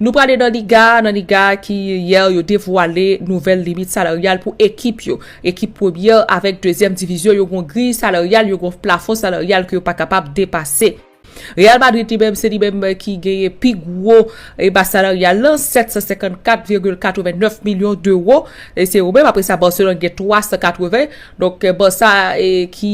Nou prale nan liga, nan liga ki yè yo devwale nouvèl limit salaryal pou ekip yo. Ekip premyè avèk dezyèm divizyon yo gon griy salaryal, yo gon plafon salaryal ke yo pa kapab depase. Real Madrid li menm, se li menm ki genyen pi gwo mas salaryal lan, 754,89 milyon dewo. Se yo menm, apre sa Barcelone gen 380, donk Barça ki.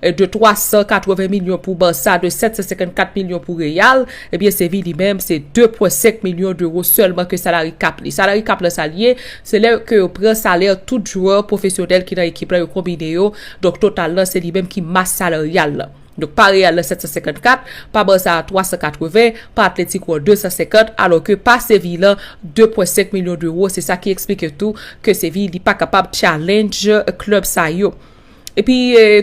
de 380 milyon pou Barça, de 754 milyon pou Real, ebyen eh Séville li menm se 2.5 milyon d'euro sèlman ke salary cap li. Salary cap lan sa li ye, se lè ke yo pran salè tout jwè pwofesyonèl ki nan ekip lan yo konbine yo, donk total lan se li menm ki mas salaryal lan. Donk pa Real lan 754, pa Barça a 380, pa Atlético an 250, alò ke pa Séville lan 2.5 milyon d'euro, se sa ki eksplike tou ke Séville li pa kapab challenge club sa yo. Epi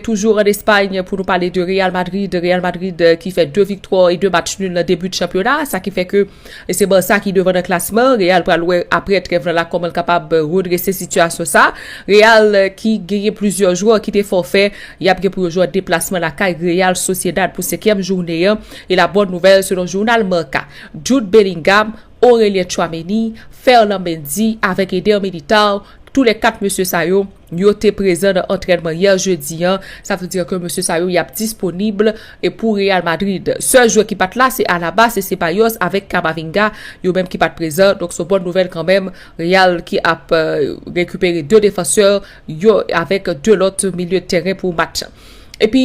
toujou an Espagne pou nou pale de Real Madrid, Real Madrid euh, ki fè 2 viktwa e 2 match nul nan debut chanpyona, sa ki fè ke e se Barça ki devan nan klasman, Real pral wè apre trèv nan la koman l kapab euh, redrese sitiyasyon sa. Real euh, ki genyen plizyè jwè ki te fòfè, y ap gen pou yo jwè deplasman lakay Real Sociedad pou senkyèm jounen an. E la bòn nouvèl selon jounal Marca, Jude Bellingham, Aurelien Tchouameni, Ferland Mendy avèk Eder Militao, tou lè 4 mesye sa yo, Yo te prezan nan antrènman yè jedi an, sa vle di ke mesye sa yo yap disponib pou Real Madrid. Sèl jwè ki pat la se Alaba, se Ceballos avèk Camavinga, yo menm ki pat prezan, donk son bòn nouvèl kanmenm, Real ki ap rekipere 2 defansè yo avèk 2 lòt milye tèren pou match. Epi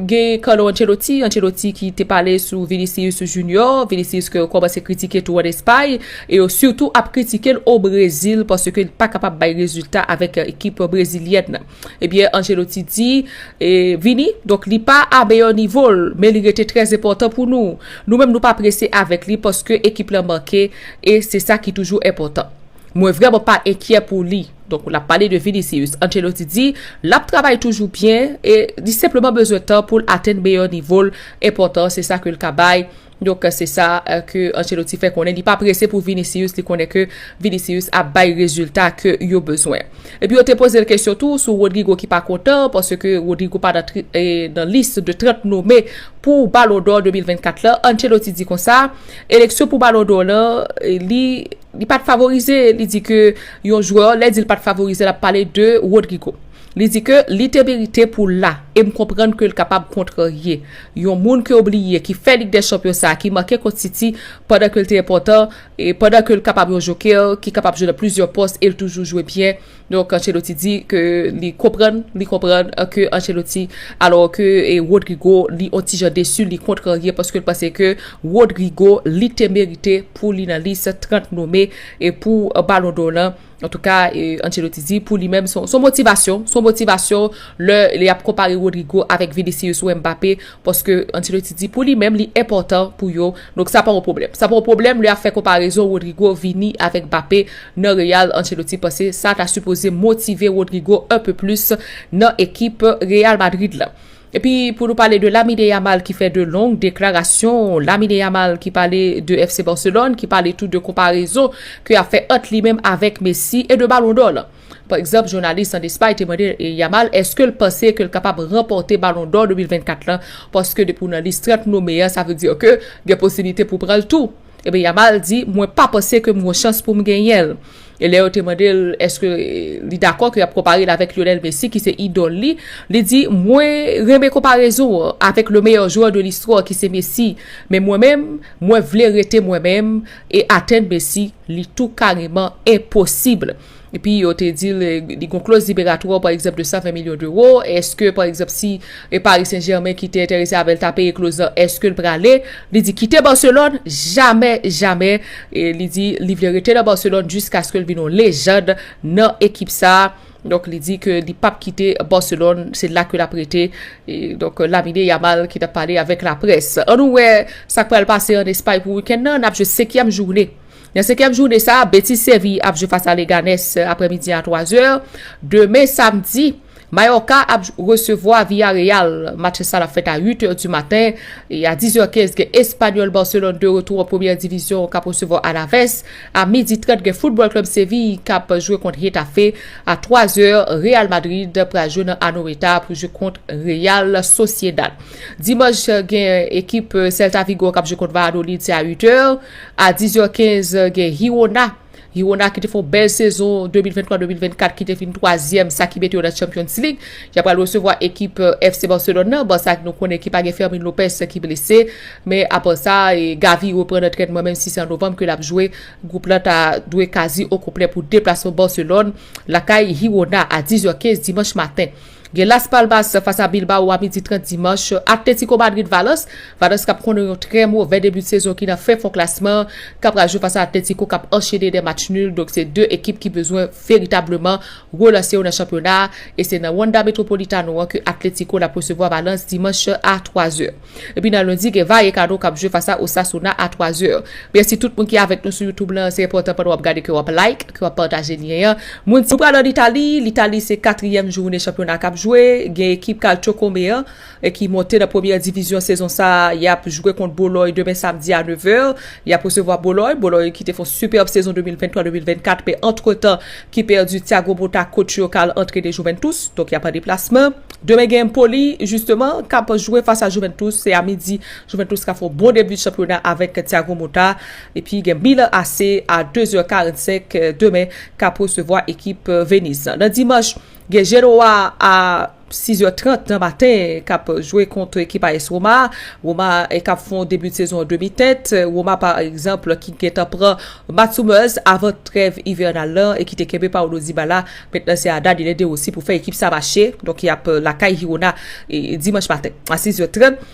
gen Carlo Ancelotti, Ancelotti ki te pale sou Vinicius Junior, Vinicius ke yo komanse kritike tou an Espay, e yo sitou ap kritike l o Brezil paske l pa kapab bay rezilta avèk ekip brezilyèn nan. Ebyen Ancelotti di, Vini, donk li pa a meyè nivo l, men li rete trè enpòtan pou nou. Nou menm nou pa prese avèk li paske ekip lan manke e se sa ki toujou enpòtan. Mwen vrèman pa enkyè pou li. Donk lap pale de Vinicius. Ancelotti di lap travay toujou byen e li senpleman bezwen tan poul atenn meyè nivol enpòtan se sa ke l ka bay. Donk se sa ke Ancelotti fè konnen li pa prese pou Vinicius li konnen ke Vinicius ap bay rezilta ke yo bezwen. Epi yo te poze l kesyon tou sou Rodrygo ki pa kontan paske Rodrygo pa nan lis de 30 nome pou Ballon d'or 2024 lan. Ancelotti di konsa, eleksyon pou Ballon d'or lan li. Li pat favorize, li di ke yon jwè, lè di li pat favorize l ap pale de Rodrygo. Li di ke li te merite pou l la, e m konprann ke l kapab kontrarye. Yon moun ke w bliye ki fè Lig dè Chanpyon sa a, ki make kont City pandan ke l te enpòtan, pandan ke l kapab yon jokè ki kapab jwe nan plizyè pòs e l toujou jwe byen, Donk Ancelotti di ke li konprann, li konprann ke Ancelotti alò ke Rodrygo li on ti jan desu, li kontrarye paske l panse ke Rodrygo li te merite pou li nan lis 30 nome e pou Ballon d'Or lan. Antouka Ancelotti di pou li menm son motivasyon, son motivasyon lè li ap konpare Rodrygo avèk Vinicius ou Mbappé. Paske Ancelotti di pou li menm li enpòtan pou yo, donk sa pa yon pwoblèm. Sa pa yon pwoblèm lè y ap fè konparezon Rodrygo, Vini avèk Mbappé nan Real, Ancelotti panse sa ta sipoze motive Rodrygo un peu plus nan ekip Real Madrid la. Epi pou nou pale de Lamine Yamal ki fè 2 long deklarasyon, Lamine Yamal ki pale de FC Barcelone, ki pale tou de konparezon ke y ap fè ant li menm avèk Messi e de Ballon d'Or lan. Pa egzanp, jounalis an Espay te mande Yamal eske l panse ke l kapab ranpòte Balon dò 2024 la paske depi w nan lis 30 nome a sa vle di ke gen posiblite pou w pran l tou. Ebyen Yamal di mwen pa panse ke m gon chans pou m genyen l. E lè yo te mande l eske li dakò ke y ap konpare l avèk Lionel Messi ki se idòl li, li di mwen renmen konparezon an avèk le meyè jwè de listwa ki se Messi men mwen menm mwen vle rete mwen menm e atenn Messi li tou kareman enposib. Epi yo te di li gon kloz liberatwa pa egzanp de 120 milyon dewo, eske pa egzanp si e Paris Saint Germain ki te enterese avèl ta peye kloz lan eskel prale, li di kite Barcelone jamè jamè e li di li vle rete nan Barcelone jiskaskel vin yon lejand nan ekip sa, donk li di ke li pap kite Barcelone se la ke lap rete donk Lamine Yamal ki tap pale avèk laprès. An nou wè sak pral pase an Espay pou wikèn nan, nap jwe 5 yèm joune. Nan senkyèm jounen sa, Betis Sevi ap jwe fas a Leganes aprè midi a 3 zè. Demen samdi, Mayorka ap resevwa Villareal. Match sa l ap fèt a 8 è di maten. E a 10 è 15 gen Espanyòl Barcelone de retou an premyè divizyon k ap resevwa Alaves. A midi 30 gen Football Club Seville k ap jwe kont Getafe. A 3 zè, Real Madrid pral jwe nan Anoeta pou jwe kont Real Sociedad. Dimanch gen ekip Celta Vigo k ap jwe kont Valladolid, se a 8 è. A 10 zè 15 gen Hirona, Hirona ki te fè yon bèl sezon 2023-2024 ki te fin 3 zyèm sa ki mete yo nan Champions League. Ya pral resevwa ekip euh, FC Barcelone nan, Barça nou konnen ki pa gen Fermin Lopez ki blese. Men apa sa, e, Gavi reprann antrènman menm si se an Novanm ke l ap jwe. Gwoup lan ta dwe kazi okonplè pou deplasman Barcelone lakay Hirona a 10 zè 15 dimanch maten. Gen Las Palmas fas a Bilbao a midi 30 dimanch. Atlético Madrid Valence, Valence kap konnen yon trè movè debi sezon ki nan fen fon klasman an ka pral jwe fas a Atlético kap anchene 2 match nul donk se 2 ekip ki bezwen veritableman relanse yo nan chanpyona a e se nan Wanda Metropolitano an ke Atlético lap resevwa Valence dimanch a 3 zè. Epi nan lundi gen Vallecano kap jwe fas a Osasuna a 3 zè. Mèsi tout moun ki avèk nou sou YouTube lan, se enpòtan pandan wap gade ke wap like, ke wap pataje lyen an. Moun Nou pral an Itali, L'Italie se katriyèm joune chanpyona kap jwe, gen ekip Calciocome an ki monte nan premyè divizyon sezon sa, yap jwe kont Boloy demen samdi a 9 è, yap resevwa Boloy, Boloy ki te fon sipèb sezon 2023, 2024 men antretan ki pèdi Thiago Motta coach yo kal antrene Juventus donk yap an deplasman demen gen Empoli jisteman kap jwe fas a Juventus se a midi Juventus ka fè yon bon debi chanpyona avèk Thiago Motta epi gen Milan AC a 2 zè 45 demen kap resevwa ekip Venise nan dimanch gen Genoa a 6 è 30 nan maten kap jwe kont ekip AS Roma, Roma kap fè yon debi sezon an demi tèt, Roma pa egzanp ki gentan pran Mats Hummels avan trèv ivènal lan e ki te kenbe Paulo Dybala, mentnan se a Daniele De Rossi pou fè ekip sa mache, donk yap lakay Hirona dimanch maten a 6 è 30.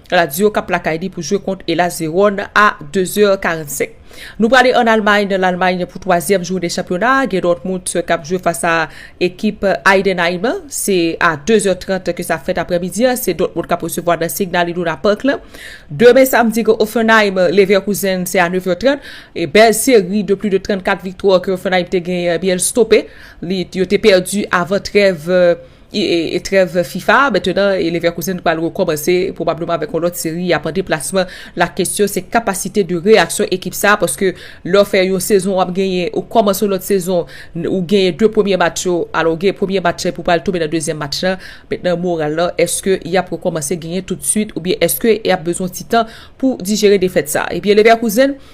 Lazio k ap lakay li pou jwe kont Hellas Verone a 2 zè 45. Nou prale an Almay nan Lalmay pou twazyèm jounen chanpyona a gen Dortmund k ap jwe fas a ekip Heidenheim an se a 2 zè 30 ke sa fèt aprè midi an se Dortmund k ap resevwa nan Signal Iduna Park lan. Demen samdi gen Hoffenheim Leverkusen se a 9 zè 30 e bèl seri de pli de 34 viktwa ke Hoffenheim te genyen ebyen l stope li yo te pèdi avan trèv E trèv fifa a mentenan e Leverkusen pral rekòmanse pwobableman avèk yon lòt seri yap an deplasman. La kesyon se kapasite de reyaksyon ekip sa a paske lè w fè yon sezon wap genyen ou kòmanse yon lòt sezon ou genyen 2 premye match yo alò ou genyen premye match la epi w pral tonbe nan dezyèm match la mentenan moral la èske yap rekòmanse genyen toutswit oubyen èske yap bezwen yon ti tan pou dijere defèt sa a ebyen Leverkusen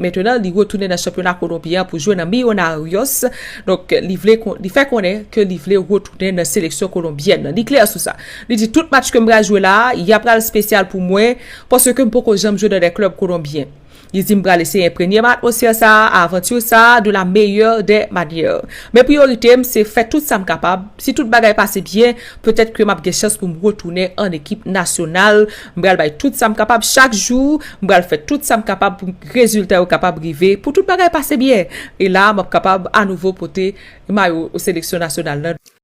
Mentenan li retounen nan chanpyona kolonbyen an pou jwe nan Millonarios, donk li fè konnen ke li vle retounen nan seleksyon kolonbyèn nan. Li klè sou sa. Li di tout match ke m pral jwe la a, ya pral spesyal pou mwen, paske m poko janm jwe nan dè klèb kolonbyen. Li di m pral eseye enpregne m atmosfè sa a, avantur sa a de la meyè dè manyè. Men priyorite m se fè tout sa m kapab, si tout bagay pase byen, petèt ke m ap gen chans pou m retounen an ekip nasyonal M pral bay tout sa m kapab chak jou, m pral fè tout sa m kapab pou rezilta yo kapab rive, pou tout bagay pase byen, e la a m ap kapab anouvo pote mayo seleksyon nasyonal la.